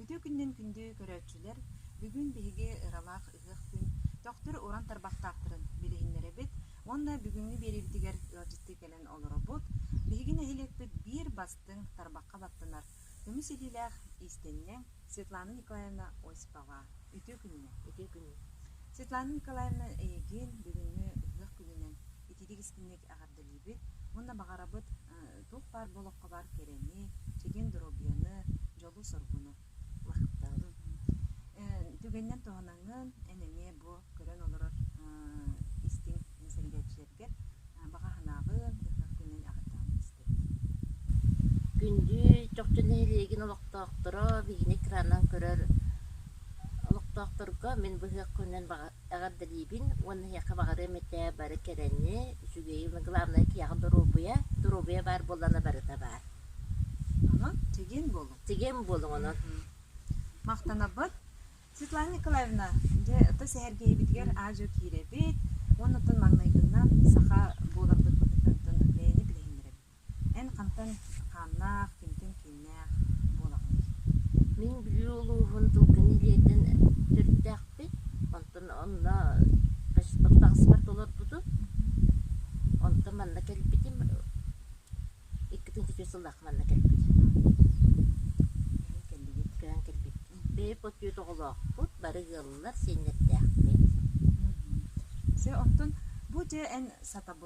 Үтүө күнүнэн күндү көрөөччүлэр! Бүгүн биһиги ыралаах ыһыах күн төхтүр уран тарбахтаахтарын билиһиннэрэбит уонна бүгүҥҥү биэриибитигэр ыалдьыттыы кэлэн олоробут. Биһиги нэһилиэкпит биир бастыҥ тарбахха баттанар көмүс илиилээх иистэнньэҥ Светлана Николаевна Осипова. Үтүө күнүнэн! Үтүө күнүн! Светлана Николаевна эйигин бүгүҥҥү ыһыах күнүнэн итирик истиҥник эҕэрдэлиибит! билиибит. Уонна баҕарабыт туох баар олоххо баар кэрэни, чэгиэн доруобуйаны, дьолу-соргуну лахтаабын. Түгэнинэн туһанаҥҥын эн эмиэ бу көрөн олорор истиҥ сэригэччилэргэ баҕа санаабын, ытык күнүн аҕытаан истэбин. Күндү чохчу нэһилиэгин олохтоохторо, биһини экранынан көрөр олохтоохторго мин быһыахпынан баҕа Эҕэрдэлиибин уонна эһиэхэ баҕарыам этэ бары кэрэни, үчүгэйи, но главное киһиэхэ доруобуйа, доруобуйа баар буоллаҕына барыта баар. Ама, тигэн буолуҥ. Тигэн буолуҥ онон. Махтанабыт. Светлана Николаевна, дьэ, оттон сэһэргэһиибитигэр аа-дьуо киирэбит уонна оттон маҥнайгыннан саха буоламмыт быһыытын оттон бэйэни билиһиннэрэбит. Эн хантан хааннаах, кимтэн кииннээх буолаҕыный? Мин Бүлүү улууһун Дылгы нэһилиэгин төрүттээхпин, онтон онно көспут таҥаспар толорбутум. Онтон манна кэлбитим. Иккитин четыре сыллаах манна кэлбитим. Көйөн кэлбиппин. Бэйэм отчуот оҕолоохпут, бары ыаллар, сиэннэрдээхпит. Дьэ, онтон бу дьэ эн сатабыл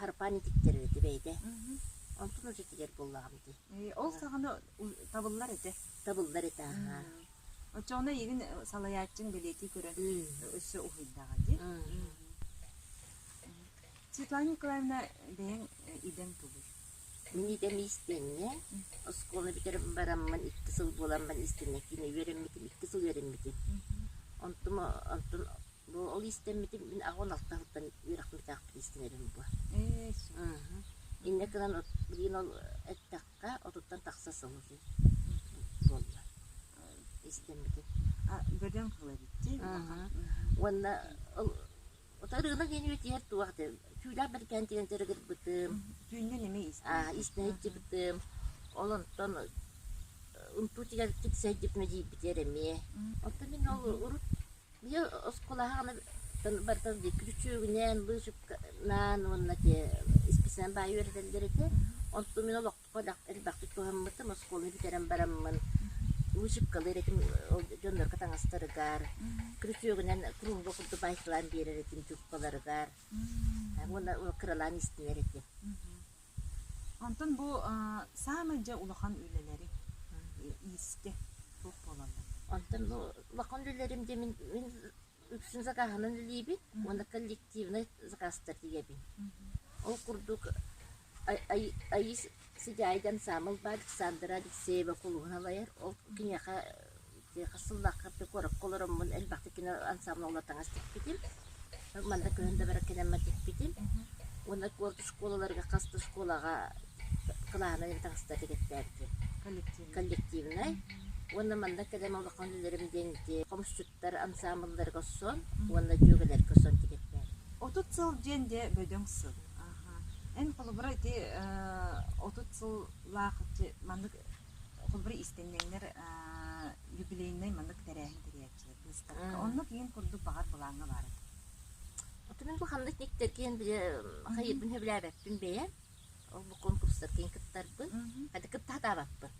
харпаан итиктэрэ эти бэйдэ. Онтун учетигэр буллаҕым ити. Э, ол саҕана табыллар этэ. Табыллар этэ, аха. Оччоҕуна игин салаяччын билети көрөн өссө уһуйдаҕа ди. Светлана Николаевна бэйэң идең тубур. Мин идэм истэннэ. Оскуола бүтэрэн бараммын икки сыл буоламмын истэннэ кини үөрэммитим, икки сыл үөрэммитим. Онтум онтун Бу ол иистэммитим мин аҕабын алта сылтан үөрэхпитээхпин иистэнэбин буо. Ээ Мм. Иннэ гынан от- билигин ол эттэххэ отуттан тахса сыл отун буолла иистэммитим. А бөдөҥ кыла битти. Мгм. Уонна ол ото ырыына диэни үтиһэр туох этэ түүлээх бэркээн тигэн төрөгирбитим. Түүннэн эме истэ. Аа иистэн иччипитим. Ол онтон унтуу тигэн китсэйдип медийбитэр эмиэ. Оттон мин ол урут Ийэ оскуолаһаҕына барытын диэки чүөгүнээн, быычыкнаан уонна исписээн баайа үөрэтэллэр этэ. Онтон мин олоххо элбэхтик туһаммытым. Оскуола бүтэрэн бараммын быычыккалыыр этим ол дьоннорго таҥастарыгар, күрүтүөгүнэн куруолга курдук баайталаан биэрэр этим трубкаларыгар уонна кыралаан истинэр этим. Онтон бу саамай дьэ улахан үлэлэри иистэ туох буолаллар? Онтон бу улахан үлэлэрим диэн мин мин үксүн закааһынан үлэлиибин уонна коллективнай закаастар тигэбин. Ол курдук Аиса Сидяйдан саамал баал Александра Алексеева кулуһун алайар ол киниэхэ Тыаха сыллаахха куоракка олороммун элбэхтик кино ансаамбыла уола таҥас тикпитим. Манна көһөн да барар кэнэммэр тикпитим. Уонна орто оскуолаларга хас да оскуолаҕа кылааһынан эбэ таҥастара тигэртээбитим. Коллективнай. коллективнай. Уонна манна кэлэн улахан үлэлэрим диэн ити хомусчуттар ансаамбылларга сон уонна дьүөгэлэргэ сон тигэртээбитим. Отут сыл диэн дьэ бөдөҥ сыл. Эн холобура ити э, отут сыллаах маннык холобура иистэнньэҥнэр юбилейнай маннык тэрээһин тэрийээччилэр быыстапка онно киин курдук баҕар былааҥҥа баар этэ Отумин бу ханнык никтеркиен бile хайыппын хөбүлээбэппин бэйэ ол бу конкурстаргын кыттарбын хата кыттаатаабаппын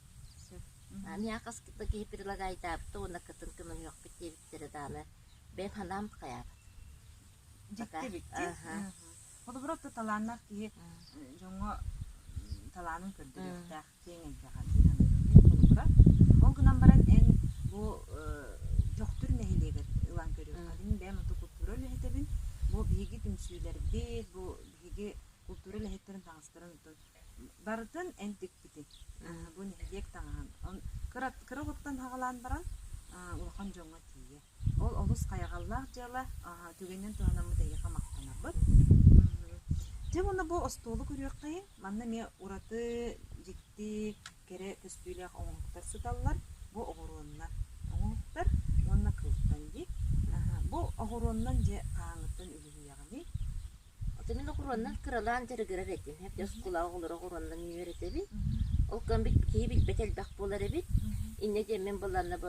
аны ақас кытта киһи прилагаайтаабыта уонна кытын көмөлүөхпүт диэбиттэри даана бэйэм ханаам хайаабат дьикти бикти холобура отто талааннах киһи дьоҥҥо талаанын көрдөрүөхтээх киэҥ эйгэҕэ сыһыаннаһыыны холобура. Ол гынан баран эн бу Дьохтур нэһилиэгэр ылан көрүөххүтүн бэйэм ото култуура үлэһитэбин. Бу биһиги түмсүүлэрбит, бу биһиги култуура үлэһиттэрин таҥастарын отон барытын эн тикпитиҥ. Бу нэһилиэк таҥаһын. Кыра оҕоттон саҕалаан баран улахан дьоҥҥо тиийэ. Ол олус хайҕаллаах дьыала, аһа, түгэнинэн туһанаммыт эйиэхэ махтанабыт. Мм. Дьэ уонна бу остуолу көрүөххэ. Манна эмиэ ураты дьикти кэрэ көстүүлээх оҥоһуктар сыталлар. Бу оҕуруоннар оҥоһуктар уонна кыылтан дии. Аһа, бу оҕуруоннан дьэ хааҥҥыттан үлүһүйэҕиний? Ити мин оҕуруоннан кыралаан дьарыгырар этим. Эрдэ Мгм. оскуолаҕа оҕолору оҕуруоннан үүнэр этибит. Мгм. Ол куран бит киһи билбэт элбэх буолар эбит. Мгм. Инньэ диэн мин быланна бу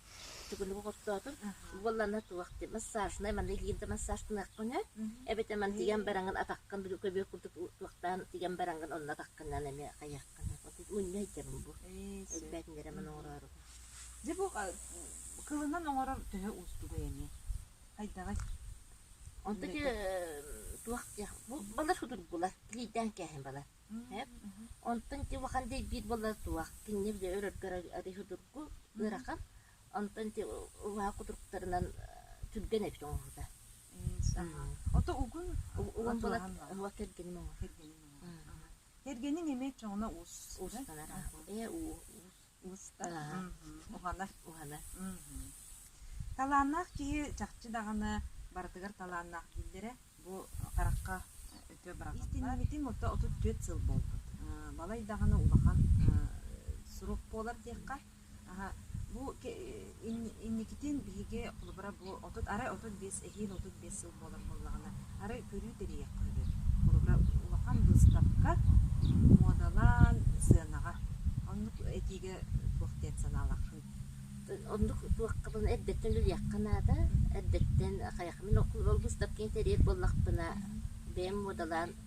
Төгүлү оҕоттоотум. Буоллана туох ти массажнай манна илиим да массаж гыныахпын ээ. Эбэтэ ман тигэн бараҥын атаххын били көбүөх курдук туохтаан тигэн бараҥгын онно атаххынан эмиэ хайаххын отут унньайдым бу. Элбээтинэрэ ман оҥороору. Дьэ бу кылынан оҥорор төһө уустугай эмиэ. Хайдаҕай? Онто ки туох диэх бу балар судур булар. Лийдээн кээһин балар. Онтон ити улахан дэйбиир буолла суох. Кинини били өрөргөр арыһы турку ыарахан. Онтон ити улаха кутуруктарынан түргэн эбит оҥоһута. Ото угун угун була уга кэргеним оҥо. Кэргенин эмиэ чоҥна уус. Уустанара. Э уу. уһанар талааннаах киһи чахчы даҕаны барытыгар талааннаах дииллэрэ бу харахха өтө истиннибитим отто отут түөрт сыл буолбут балай даҕаны улахан сурук буолар диэххэ бу Инникитин биһиги холобура бу отут арай отут биэс эһиил отут биэс сыл буолар буоллаҕына арай көрүү тэрийиэххэ үһү. Холобура улахан быыстапка муодалаан сыанаҕа оннук этиигэ туох диэн санаалааххын? Оннук туоххабын эрдэттэн үлүйэххэ наада. Эрдэттэн хайахмын ол быыстапканы тэрийэр буоллахпына бэйэм муодалаан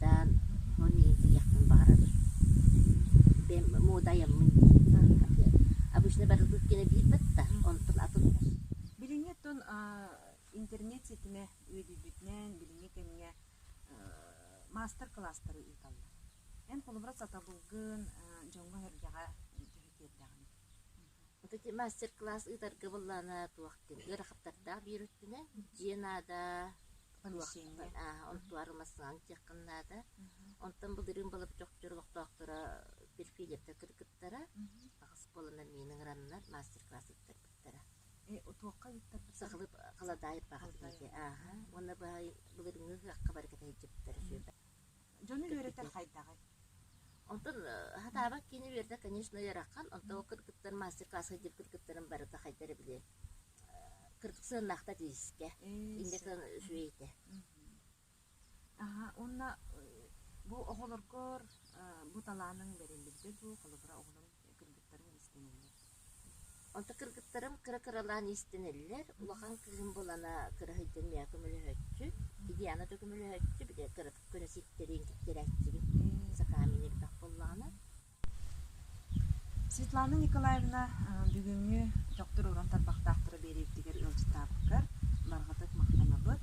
Таан ону иитиэхпин баҕарабын. Бэм муодайаммын дии атыа. Обычно барылгыт кэнэ биирбит да, онтон атын да. Билиҥҥи оттон интернет ситимэ үөдүйбүтүнэн билиҥҥи кэмҥэ маастар-кылаастары ыыталлар. Эн холобура сатабылгын дьоҥҥо-сэргэҕэ түһэ тиэрдэҕиҥ. Ити мастер-класс ыытарга былаана туох диэн ыарахаттардаах биир өттүнэн дьиэ наада, туох аа онтуары массаалын диэххин наада. Онтон былырыын балабачокчор олохтоохторо перфилевтэр кыргыттара аҕыс буоланнар миин ыҥыраннар мастер-класс ыыттарбыттара. Туохха ыыттарбыттара? Сахалыы халадаайыппаах диэн ааһа. Уонна былырыыҥҥы ыһыахха бары кэтэһиттара сүөбэ. Дьону үөрэтэр хайдаҕый? Онтон сатаабат киһини үөрэтэр, конечно, ыараххан. Онтон ол кыргыттар мастер-класска киирбит кыргыттарын барыта хайда эрэ били кырдык сыаннаахта диискэ. Индика үчүгэйитэ. Аха, уонна бу оҕолоргор бу талааныҥ бэриллибитэ дуу, холобура оҕолорум кыргыттарым иистэнэллэр. Онто кыргыттарым кыра-кыралаан иистэнэллэр. Улахан кыыһым булана кыра сылдьан миэхэ көмөлөһөөччү. Диана да көмөлөһөөччү. Били кыра көнө сиртэрин киттэрээччибит. Сакаамын эбэтэх буоллаҕына. Светлана Николаевна бүгүҥҥү дьохтур уран тарбахтаахтара биэриитигэр ыалдьытаабыккар барҕатык махтанабыт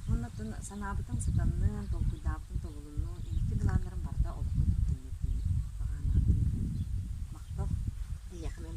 уонна санаабытын сатанныан толкуйдаабытын тобулунну инники былааннарым барыта олоххо киирдиннэр диэн баҕаан ааттыыр махтал эйиэхэ мин